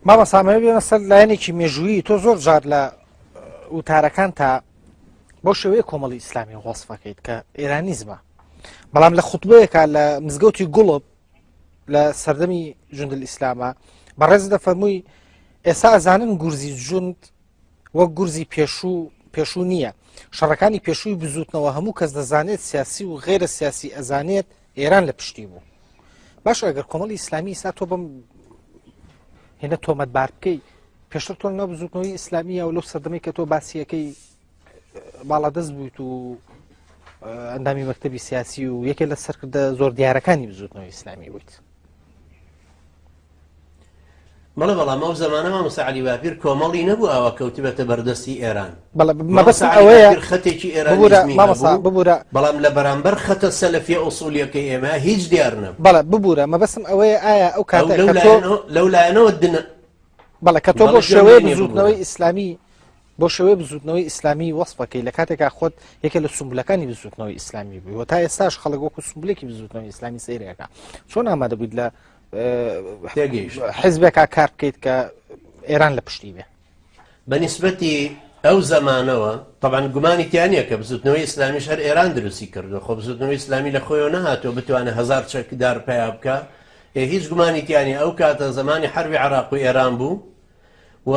مامۆستا ئەمەوێ بێمە سەر لایەنێکی مێژوویی تۆ زۆر جار لە وتارەکان تا بۆ شێوەیە کۆمەڵی ئیسلامی وەصفەکەیت کە ئێرانیزمە بەڵام لە خوتبەیەکە لە مزگەوتی گوڵب لە سەردەمی جندل ئیسلامە بەڕێز دەفەرمووی ئێستا ئەزانن گورزی جوند وەک گورزی پێشوو پێشوو نییە شەڕەکانی پێشووی بزوتنەوە هەموو کەس دەزانێت سیاسی و غێرە سیاسی ئەزانێت ئێران لە پشتی بوو باش ئەگەر کۆمەڵی ئیسلامی ئستا تۆ بم هێنە تۆمەت بار بکەی پێشتر تۆ نە بزوتنەوەی ئیسلامیە و لەو سەردەمی کە تۆ باسیەکەی باڵادەست بوویت و ئەندامی مەکتتەبی سیاسی و یەکێ لە سەرکردە زۆر دیارەکانی بزوتنەوەی ئیسلامی بوویت بەڵێ بەڵام ئەو زەمانە مامۆستا عەلی باپیر کۆمەڵی نەبوو ئاوا کەوتبێتە بەردەستی ئێران بەڵێ مامۆستا مەبەستم عەلی ئەوەیە باپیر خەتێکی ببورە ئێرانیزمی مامۆستا هەبوو ببورە بەڵام لە بەرامبەر خەتە سەلەفیە ئوسوڵیەکەی ئێمە هیچ دیار نەبوو بەڵێ ببورە مەبەستم ئەوەیە ئایا ئەو ئەو کاتە لەو کە تۆ لایەنەوە لەو لایەنەوە دنە بەڵێ کە تۆ بۆ بەڵێ گوێم شێوەیە لێ نییە بزوتنەوەی ببورە ئیسلامی بۆ شێوەیە بزوتنەوەی ئیسلامی وەسفەکەی لە کاتێکا خۆت یەکێ لە سمبولەکانی بزوتنەوەی ئیسلامی بووی و تا ئێستاش خەڵک وەکو سمبولێکی بزوتنەوەی ئیسلامی سەیرەکە چۆن ئامادە بوویت لە تێگەیشت حزبێکا کار بکەیت کە ئێران لە پشتی بێ بە نسبەتی ئەو زمانەوە طبعاان گومانی تیانە کە بزوتنەوەی ئسلامیش هەر ئێران دروستی کردو خۆ بزوتنەوەی ئسلامی لە خۆیەوە نەهاتوە بتوانێت هزار چەکدار پیا بکە هێ هیچ گومانی تیانی ئەو کاتە زمانی حربی عراق و ئێران بوو و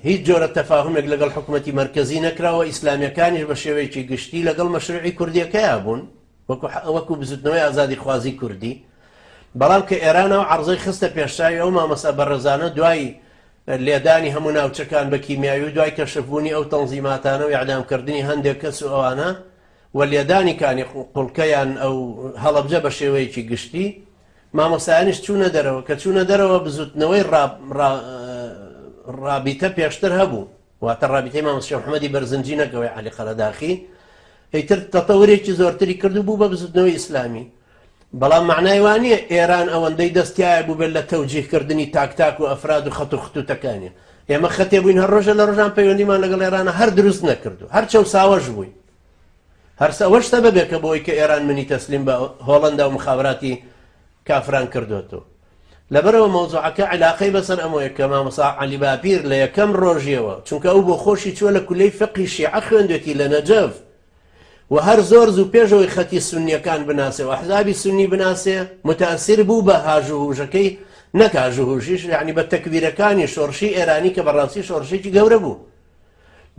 هیچ جۆرە تەفاهمێک لەگەڵ حکوومەتتی مرکزی نەکراوە ئیسلامیەکانیش بە شێوەیەکی گشتی لەگەڵ مەشروعی کوردیەکەیا بوون وەکو وەکو بزوتنەوەی ئازادی خوازی کوردی بەڵام کە ئێران ئەو عەڕزەی خستە پێشچاوی ئەو مامۆستا بەڕێزانە دوای لێدانی هەموو ناوچەکان بە کیمیاوی و دوای کەشف بوونی ئەو تەنزیماتانە و ئیعدام کردنی هەندێک کەس و ئەوانە و لێدانی کانی قوڵکەیان ئەو هەڵەبجە بە شێوەیەکی گشتی مامۆستایانیش چوونە دەرەوە کە چوونە دەرەوە بزوتنەوەی ڕابیتە پێشتر هەبوو واتە ڕابیتەی مامۆست شێخ محەمەدی بەرزنجی نەگەوەی عەلی قەرەداخی ئیتر تەتەورێکی زۆرتری کرد و بوو بە بزوتنەوەی ئیسلامی بەڵام معنای وانە ئێران ئەوەندەی دەستایە بوو بێت لە تەوجیهکردنی تاکتاک و ئەفراد و خەت و خطوتەکانی ئێمە خەتێ بووین هەر ڕۆژە لە ڕژان پەیوەندیمان لەگەڵ ئێرانە هەر دروست نەکردو هەر چەو ساوەش بووین هەرسە ئەوەش سەبەبێکە بۆی کە ئێران منی تەسلیم بە هۆڵندا و مخابراتی کافران کردۆتۆ لەبەرەوە مەوزوعەکە علاقەی بەسەر ئەمەوەیە کە مامۆسا عەلی باپیر لە یەکەم ڕۆژیەوە چونکە ئەو بۆ خۆشی چووە لە کولەی فقی شیعە خوێندێتی لە نەجەف و هەر زۆر زوو پێشەوەی خەتی سنیەکان بناسێ و حزابی سنی بناسێ متاثر بوو بە هاژوهوژەکەی نەکاژوهوژیش یعنی بە تەکبیرەکانی شۆڕشی ئێرانی کە بەڕاستی شۆڕشێکی گەورە بوو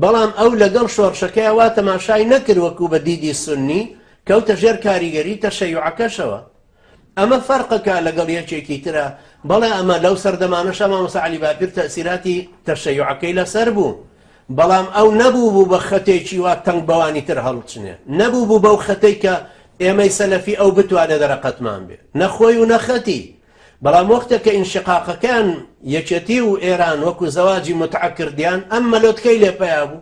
بەڵام ئەو لەگەڵ شۆڕشەکەیا وا تەماشای نەکرد وەکو بە دیدی سوننی، کەوتە ژێر کاریگەری تەشەیوعەکەشەوە. ئەمە فەرقەکە لەگەڵ یەکێکی ترا، بەڵێ ئەمە لەو سەردەمانەشا مامۆستا عەلی باپیر تەئسیراتی تەشەیوعەکەی لەسەر بوو، بەڵام ئەو نەبووبوو بە خەتێکی وا تەنگ بەوانی تر هەڵچنێ، نەبووبوو بەو خەتەی کە ئێمەی سەلەفی ئەو بتوانێ دەرەقەتمان بێ، نە خۆی و نە خەتی، بەڵام وەختێک کە ئینشقاقەکەیان یەکێتی و ئێران وەکو زەواجی موتعە کردیان ئەم مەلۆتکەی لێ پەیا بوو.